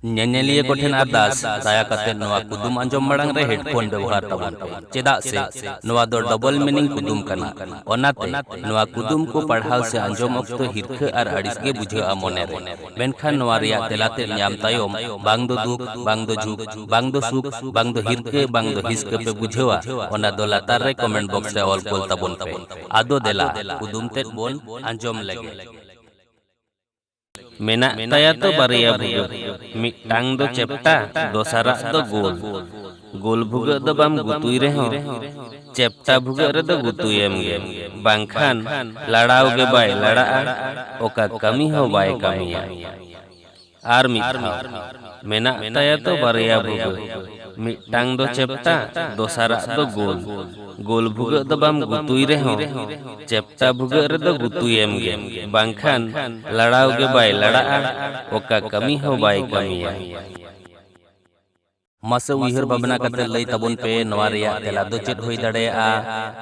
ᱧᱮᱧᱮᱞᱤᱭᱟᱹ ᱠᱚ ᱴᱷᱮᱱ ᱟᱨᱫᱟᱥ ᱫᱟᱭᱟ ᱠᱟᱛᱮ ᱱᱚᱣᱟ ᱠᱩᱫᱩᱢ ᱟᱸᱡᱚᱢ ᱢᱟᱲᱟᱝ ᱨᱮ ᱦᱮᱰᱯᱷᱳᱱ ᱵᱮᱣᱦᱟᱨ ᱛᱟᱵᱚᱱ ᱯᱮ ᱪᱮᱫᱟᱜ ᱥᱮ ᱱᱚᱣᱟ ᱫᱚ ᱰᱚᱵᱚᱞ ᱢᱤᱱᱤᱝ ᱠᱩᱫᱩᱢ ᱠᱟᱱᱟ ᱚᱱᱟᱛᱮ ᱱᱚᱣᱟ ᱠᱩᱫᱩᱢ ᱠᱚ ᱯᱟᱲᱦᱟᱣ ᱥᱮ ᱟᱸᱡᱚᱢ ᱚᱠᱛᱚ ᱦᱤᱨᱠᱷᱟᱹ ᱟᱨ ᱟᱹᱲᱤᱥ ᱜᱮ ᱵᱩᱡᱷᱟᱹᱜᱼᱟ ᱢᱚᱱᱮ ᱨᱮ ᱢᱮᱱᱠᱷᱟᱱ ᱱᱚᱣᱟ ᱨᱮᱭᱟᱜ ᱛᱮᱞᱟ ᱛᱮᱫ ᱧᱟᱢ ᱛᱟᱭᱚᱢ ᱵᱟᱝ ᱫᱚ ᱫᱩᱠ ᱵᱟᱝ ᱫᱚ ᱡᱷᱩᱠ ᱵᱟᱝ ᱫᱚ ᱥᱩᱠ ᱵᱟᱝ ᱫᱚ ᱦᱤᱨᱠᱟᱹ ᱵᱟᱝ ᱫᱚ ᱦᱤᱥᱠᱟᱹ ᱯᱮ ᱵᱩᱡᱷᱟᱹᱣᱟ ᱚᱱᱟ ᱫᱚ ᱞᱟᱛᱟᱨ ᱨᱮ ᱠᱚᱢᱮᱱᱴ ᱵᱚᱠᱥ ᱨᱮ ᱚᱞ ᱠᱳᱞ ᱛᱟᱵᱚᱱ ᱯᱮ ᱟᱫᱚ ᱫᱮᱞᱟ ᱠᱩᱫᱩᱢ ᱛᱮᱫ ᱵᱚᱱ ᱟᱸᱡᱚᱢ ᱞᱮᱜᱮ ᱢᱮᱱᱟᱜ ᱛᱟᱭᱟ ᱛᱚ ᱵᱟᱨᱭᱟ ᱵᱷᱩᱜᱟᱹᱜ᱾ ᱢᱤᱫᱴᱟᱝ ᱫᱚ ᱪᱮᱯᱴᱟ, ᱫᱚᱥᱟᱨᱟᱜ ᱫᱚ ᱜᱳᱞ᱾ ᱜᱳᱞ ᱵᱷᱩᱜᱟᱹᱜ ᱫᱚ ᱵᱟᱢ ᱜᱩᱛᱩᱭ ᱨᱮᱦᱚᱸ ᱪᱮᱯᱴᱟ ᱵᱷᱩᱜᱟᱹᱜ ᱨᱮᱫᱚ ᱜᱩᱛᱩᱭᱮᱢ ᱜᱮ᱾ ᱵᱟᱝᱠᱷᱟᱱ ᱞᱟᱲᱟᱣ ᱜᱮ ᱵᱟᱭ ᱞᱟᱲᱟᱜᱼᱟ, ᱚᱠᱟ ᱠᱟᱹᱢᱤ ᱦᱚᱸ ᱵᱟᱭ ᱠᱟᱹᱢᱤᱭᱟ᱾ ᱟᱨ ᱢᱤᱫ ᱫᱷᱟᱣ᱾ ᱢᱮᱱᱟᱜ ᱛᱟᱭᱟ ᱛᱚ ᱵᱟᱨᱭᱟ ᱵᱷᱩᱜᱟᱹᱜ᱾ ᱢᱤᱫᱴᱟᱝ ᱫᱚ ᱪᱮᱯᱴᱟ ᱫᱚᱥᱟᱨᱟᱜ ᱫᱚ ᱜᱳᱞ ᱜᱳᱞ ᱵᱷᱩᱜᱟᱹᱜ ᱫᱚ ᱵᱟᱢ ᱜᱩᱛᱩᱭ ᱨᱮᱦᱚᱸ ᱪᱮᱯᱴᱟ ᱵᱷᱩᱜᱟᱹᱜ ᱨᱮᱫᱚ ᱜᱩᱛᱩᱭᱮᱢ ᱜᱮ ᱵᱟᱝᱠᱷᱟᱱ ᱞᱟᱲᱟᱣ ᱜᱮ ᱵᱟᱭ ᱞᱟᱲᱟᱜᱼᱟ ᱚᱠᱟ ᱠᱟᱹᱢᱤ ᱦᱚᱸ ᱵᱟᱭ ᱠᱟᱹᱢᱤᱭᱟ᱾ ᱢᱟᱥᱮ ᱩᱭᱦᱟᱹᱨ ᱵᱷᱟᱵᱽᱱᱟ ᱠᱟᱛᱮ ᱞᱟᱹᱭ ᱛᱟᱵᱚᱱ ᱯᱮ ᱱᱚᱣᱟ ᱨᱮᱭᱟᱜ ᱛᱮᱞᱟ ᱫᱚ ᱪᱮᱫ ᱦᱩᱭ ᱫᱟᱲᱮᱭᱟᱜᱼᱟ?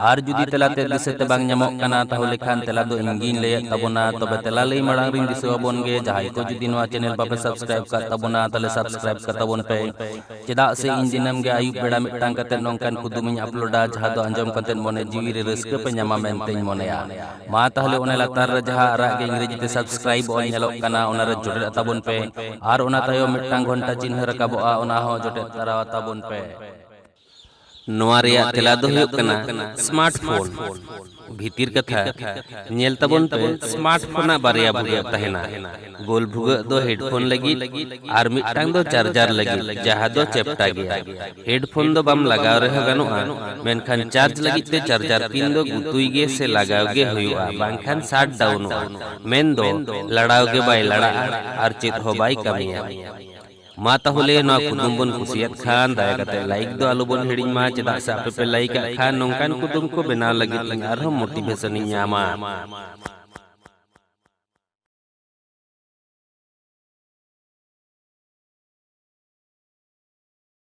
ᱟᱨ ᱡᱩᱫᱤ ᱛᱮᱞᱟ ᱛᱮᱫ ᱫᱤᱥᱟᱹ ᱛᱮ ᱵᱟᱝ ᱧᱟᱢᱚᱜ ᱠᱟᱱᱟ ᱛᱟᱦᱚᱞᱮ ᱠᱷᱟᱱ ᱛᱮᱞᱟ ᱫᱚ ᱤᱧ ᱜᱤᱧ ᱞᱟᱹᱭ ᱟᱫ ᱛᱟᱵᱚᱱᱟ ᱛᱚᱵᱮ ᱛᱮᱞᱟ ᱞᱟᱹᱭ ᱢᱟᱲᱟᱝ ᱨᱤᱧ ᱫᱤᱥᱟᱹ ᱟᱵᱚᱱ ᱜᱮ ᱡᱟᱦᱟᱸᱭ ᱠᱚ ᱡᱩᱫᱤ ᱱᱚᱣᱟ ᱪᱮᱱᱮᱞ ᱵᱟᱯᱮ ᱥᱟᱵᱽᱥᱠᱨᱟᱭᱤᱵᱽ ᱟᱠᱟᱫ ᱛᱟᱵᱚᱱᱟ ᱛᱟᱦᱚᱞᱮ ᱥᱟᱵᱽᱥᱠᱨᱟᱭᱤᱵᱽ ᱥᱟᱵᱥᱠᱨᱟᱭᱤᱵ ᱠᱟᱛᱟ ᱵᱚᱱ ᱯᱮ ᱪᱮᱫᱟᱜ ᱥᱮ ᱤᱧ ᱫᱤᱱᱟᱹᱢ ᱜᱮ ᱟᱹᱭᱩᱵ ᱵᱮᱲᱟ ᱢᱤᱫᱴᱟᱝ ᱠᱟᱛᱮ ᱱᱚᱝᱠᱟᱱ ᱠᱩᱫᱩᱢ ᱤᱧ ᱟᱯᱞᱳᱰᱟ ᱡᱟᱦᱟᱸ ᱫᱚ ᱟᱸᱡᱚᱢ ᱠᱟᱛᱮ ᱢᱚᱱᱮ ᱡᱤᱣᱤ ᱨᱮ ᱨᱟᱹᱥᱠᱟᱹ ᱯᱮ ᱧᱟᱢᱟ ᱢᱮᱱᱛᱮᱧ ᱢᱚᱱᱮᱭᱟ ᱢᱟ ᱛᱟᱦᱞᱮ ᱚᱱᱮ ᱞᱟᱛᱟᱨ ᱨᱮ ᱡᱟᱦᱟᱸ ᱟᱨᱟᱜ ᱜᱮ ᱤᱝᱨᱮᱡᱤ ᱛᱮ ᱥᱟᱵᱥᱠᱨᱟᱭᱤᱵ ᱚᱞ ᱧᱮᱞᱚᱜ ᱠᱟᱱᱟ ᱚᱱᱟ ᱨᱮ ᱡᱚᱴᱮᱫ ᱟᱛᱟ ᱵᱚᱱ ᱯᱮ ᱟᱨ ᱚᱱᱟ ᱛᱟᱭᱚᱢ ᱢᱤᱫᱴᱟᱝ ᱜᱷᱚᱱᱴᱟ ᱪᱤᱱᱦᱟᱹ ᱨᱟᱠᱟᱵᱚᱜᱼᱟ ᱚᱱᱟ ᱦᱚᱸ ᱡᱚᱴᱮᱫ ᱛᱟᱨᱟ ᱟᱛᱟ ᱵᱚᱱ ᱯᱮ ᱱᱚᱣᱟ ᱨᱮᱭᱟᱜ ᱛᱮᱞᱟ ᱫᱚ ᱦᱩᱭᱩᱜ ᱠᱟᱱᱟ ᱥᱢᱟᱨᱴ ᱯᱷᱳᱱ᱾ ᱵᱷᱤᱛᱤᱨ ᱠᱟᱛᱷᱟ, ᱧᱮᱞ ᱛᱟᱵᱚᱱ ᱯᱮ ᱥᱢᱟᱨᱴ ᱯᱷᱳᱱ ᱟᱜ ᱵᱟᱨᱭᱟ ᱵᱷᱩᱜᱟᱹᱜ ᱛᱟᱦᱮᱸᱱᱟ᱾ ᱜᱳᱞ ᱵᱷᱩᱜᱟᱹᱜ ᱫᱚ ᱦᱮᱰᱯᱷᱳᱱ ᱞᱟᱹᱜᱤᱫ ᱟᱨ ᱢᱤᱫᱴᱟᱝ ᱫᱚ ᱪᱟᱨᱡᱟᱨ ᱞᱟᱹᱜᱤᱫ ᱡᱟᱦᱟᱸ ᱫᱚ ᱪᱮᱯᱴᱟ ᱜᱮᱭᱟ᱾ ᱦᱮᱰᱯᱷᱳᱱ ᱫᱚ ᱵᱟᱢ ᱞᱟᱜᱟᱣ ᱨᱮᱦᱚᱸ ᱜᱟᱱᱚᱜᱼᱟ, ᱢᱮᱱᱠᱷᱟᱱ ᱪᱟᱨᱡᱽ ᱞᱟᱹᱜᱤᱫ ᱛᱮ ᱪᱟᱨᱡᱟᱨ ᱯᱤᱱ ᱫᱚ ᱜᱩᱛᱩᱭ ᱜᱮ ᱥᱮ ᱞᱟᱜᱟᱣ ᱜᱮ ᱦᱩᱭᱩᱜᱼᱟ ᱵᱟᱝᱠᱷᱟᱱ ᱥᱟᱴ ᱰᱟᱣᱩᱱᱚᱜᱼᱟ, ᱢᱮᱱᱫᱚ ᱞᱟᱲᱟᱣ ᱜᱮ ᱵᱟᱭ ᱞᱟᱲᱟᱜᱼᱟ ᱟᱨ ᱪᱮᱫ ᱦᱚᱸ ᱵᱟᱭ ᱠᱟᱹᱢᱤᱭᱟ᱾ ᱢᱟ ᱛᱟᱦᱚᱞᱮ ᱱᱚᱣᱟ ᱠᱩᱫᱩᱢ ᱵᱚᱱ ᱠᱩᱥᱤᱭᱟᱫ ᱠᱷᱟᱱ ᱫᱟᱭᱟ ᱠᱟᱛᱮ ᱞᱟᱭᱤᱠ ᱫᱚ ᱟᱞᱚ ᱵᱚᱱ ᱦᱤᱲᱤᱧ ᱢᱟ ᱪᱮᱫᱟᱜ ᱥᱮ ᱟᱯᱮ ᱯᱮ ᱞᱟᱭᱤᱠ ᱟᱜ ᱠᱷᱟᱱ ᱱᱚᱝᱠᱟᱱ ᱠᱩᱫᱩᱢ ᱠᱚ ᱵᱮᱱᱟᱣ ᱞᱟᱹᱜᱤᱫ ᱤᱧ ᱟᱨᱦᱚᱸ ᱢᱳᱴᱤᱵᱷᱮᱥᱚᱱ ᱤᱧ ᱧᱟᱢᱟ